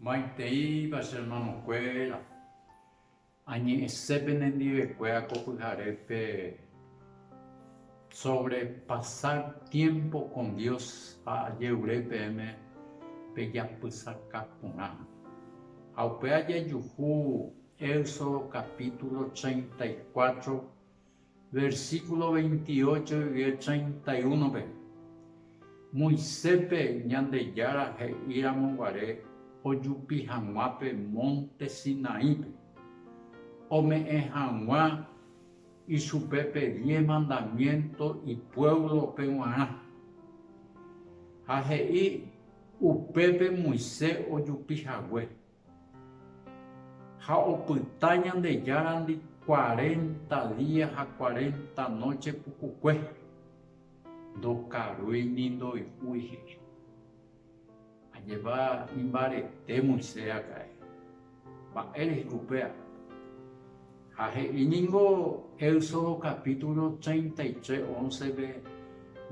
Maiteipa che hermanokuéra, añe'ẽse penendivekuéra ko pyharépe sobre pasar tiempo con Dios ha ajerure peẽme pejapysaka porã. Ha upéva jajuhu Éxodo capítulo treinta y cuatro Versículo 28 yvie 31-pe, Moiséspe Ñandejára he'íramo guare ojupi hag̃ua pe mónte Sinaípe, ome'ẽ hag̃ua ichupe pe diez mandamiénto ipuévlope g̃uarã. Ha he'i upépe Moisés ojupi hague, Ha opyta Ñandejárandi cuarenta día ha cuarenta noche pukukue, ndokarúi ni ndoy'úi he'i. Ajépa imbarete Moisés akãe. Mba'érehe upéva? Ha he'i ningo Éxodo capítulo treinta y tres, once-pe,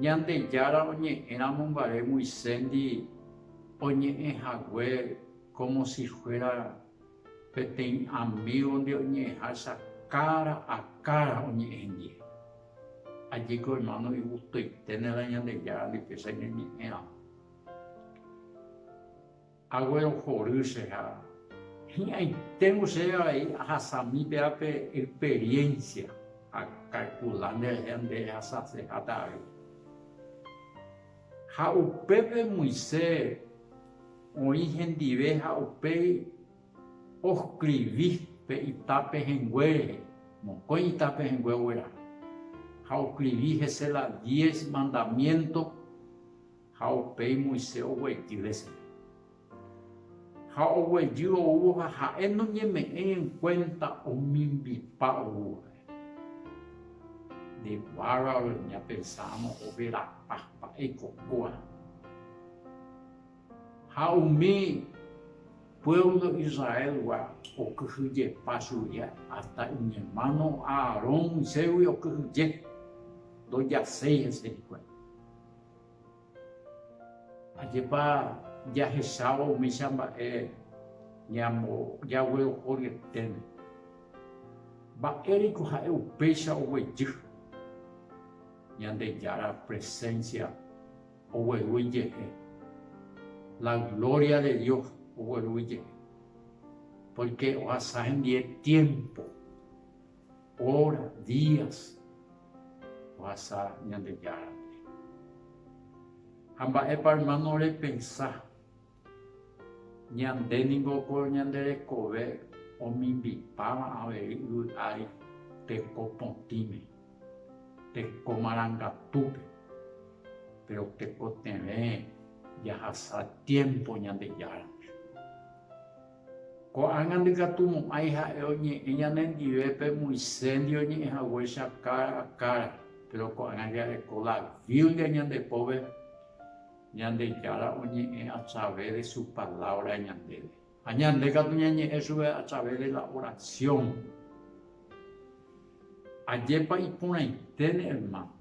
Ñandejára oñe'ẽramo mba'e Moiséndi, Oñe'ẽ hague kómo si fuéra peteĩ amígonde oñe'ẽháicha kára a kára oñe'ẽ hembie. Ajéko ermáno igustoiténe la Ñandejára ndipéicha ñañe'ẽramo. Aguerohory che ha hi'ãiténgo chéve avei ahasami péva pe experiénsia, akalkula nderehe nde rehasaseháta avei. Ha upépe Moise oĩ hendive ha upéi oskrivi pe ita pehẽngue rehe, mokõi ita pehẽngue ogueraha, ha oskrivi hese la diez mandamiénto ha upéi Moise oguejy hese. Ha oguejy oúvo ha ha'e noñeme'ẽ en kuénta omimbipa oúvape. Nde bárbaro ñapensáramo overapa mba'e ko kóa. Ha umi puévlo Israélgua okyhyjepa chugui ásta iñermáno Aarón Moisésgui okyhyje, ndojaséi hese hikuái. Ajépa jahechávo umícha mba'e ñambojágue oho ryeténe. Mba'éreiko ha'e upéicha oguejy. Ñandejára presénsia ogueru ijehe, la glória de Dios ogueru ijehe, pórke ohasa hendie tiémpo. Óra, días, ohasa Ñandejárape. Ha mba'épa, ermáno, repensa? Ñande ningo ko ñande rekove omimbipáva avei yvy ári teko potĩme, teko marangatúpe. Péro tekotevẽ jahasa tiémpo Ñandejárape. Ko'ág̃a ndikatu mo'ãi ha'e oñe'ẽ ñanendive pe mu iséndio oñe'ẽ haguéicha kára kára, péro ko'ág̃a jareko la Biblia ñande pópe, Ñandejára oñe'ẽ atrave de su Palávra ñandéve, ha ñande katu ñañe'ẽ chupe atrave de la orasión. Ajépa iporãiténe, ermáno!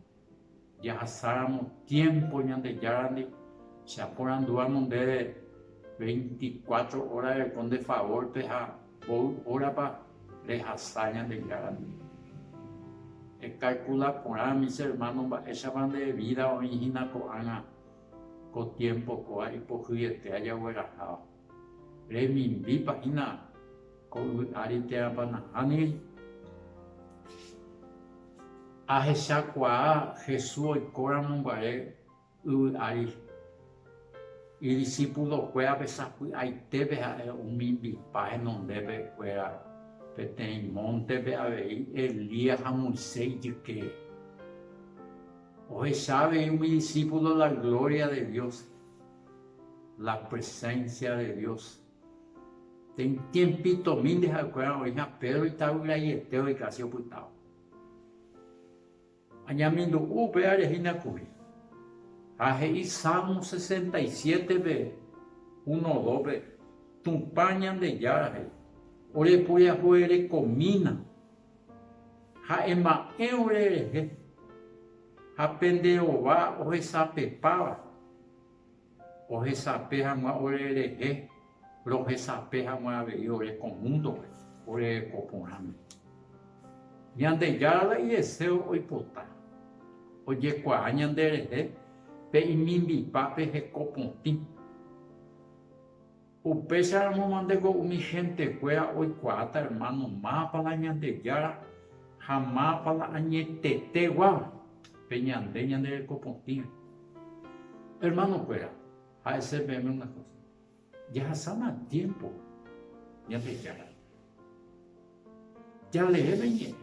Jahasáramo tiémpo Ñandejárandi, che aporandúramo ndéve, veinticuatro óra reko nde favórpe ha mboy órapa rehasa Ñandejárandi. Ekalkula porã, mis ermános, mba'éichapa nde vída oĩhína ko'ág̃a ko tiémpo kóva ipohyete ajagueraháva. Remimbípa hína ko yvy ári térãpa nahániri? Ahechakuaa Jesús oikóramo guare yvy ári, idisipulokuérape sapy'aitépe ha'e omimbipa henondépe kuéra peteĩ móntepe avei Elías ha Moisés ijyke. Ohecha avei umi disípulo la glória de Dios. La presencia de Dios. Tiempitomi nde ha'ekuéra oĩha Pedro itavyraiete oikasi opytávo. Añamindu'u upéva rehína kuri. Ha he'i Salmo 67 pe uno dópe, Tupã Ñandejára he'i, Ore puriahuverekomína ha ema'ẽ ore rehe, ha pende ova ohesapepáva, ohesape hag̃ua ore rehe, rohesape hag̃ua avei ore ko múndope oreko porãme. Ñandejára la ideséo oipota ojekuaa ñanderehe pe imimbipápe heko potĩ. Upéicharamo mante ko umi hentekuéra oikuaáta ermáno mápa la Ñandejára ha mápa la añetete guáva pe ñande ñande reko potĩre. Ermanokuéra, ha'ese peẽme una kósa, jahasána tiémpo Ñandejárare. Jalee pe ñe'ẽ,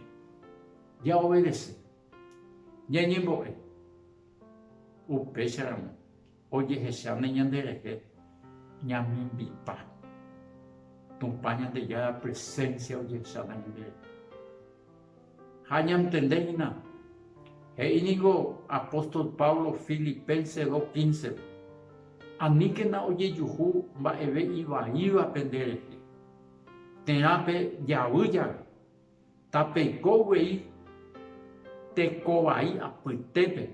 jaovadese, ñañembo'e. Upéicharamo Ojehecháne ñanderehe ñamimbipa. Tupã Ñandejára presénsia ojehecháta ñanderehe. Ha ñantende hína, he'i ningo apóstol Pablo Filipenses dos quíncepe, Aníkena ojejuhu mba'eve ivaívape nderehe, térãpe javy jave, Tapeiko guei teko vai apytépe,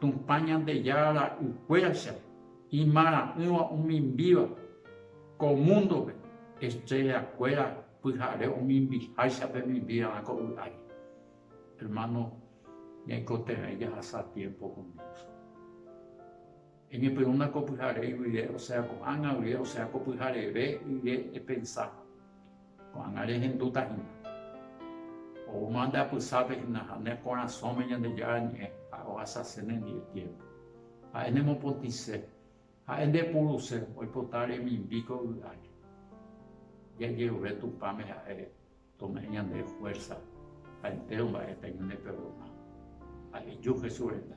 Tupã Ñandejára ra'ykuéracha imarã'ỹva omimbíva ko múndope, estréllakuéra pyhare omimbiháicha pemimbíva ko y'ári. Hermano, ñaikotevẽi jahasa tiémpo con Dios. Eñepyrũna ko pyhare guive, osea ko'ág̃a guive, osea ko pyhareve guive epensa, Ko'ág̃a rehendutahína. Oúma nde apysápe hína ha ne korasõme Ñandejára Ñe'ẽ ha rohasase nendive tiémpo. Ha'e nemopotĩse, ha'e ndepuruse, oipota remimbi ko yvy ári. Jajerure Tupãme ha'e tome'ẽ ñande fuérsa Ha entéro mba'e peñoine perdoná. Ha heju Jesús renda.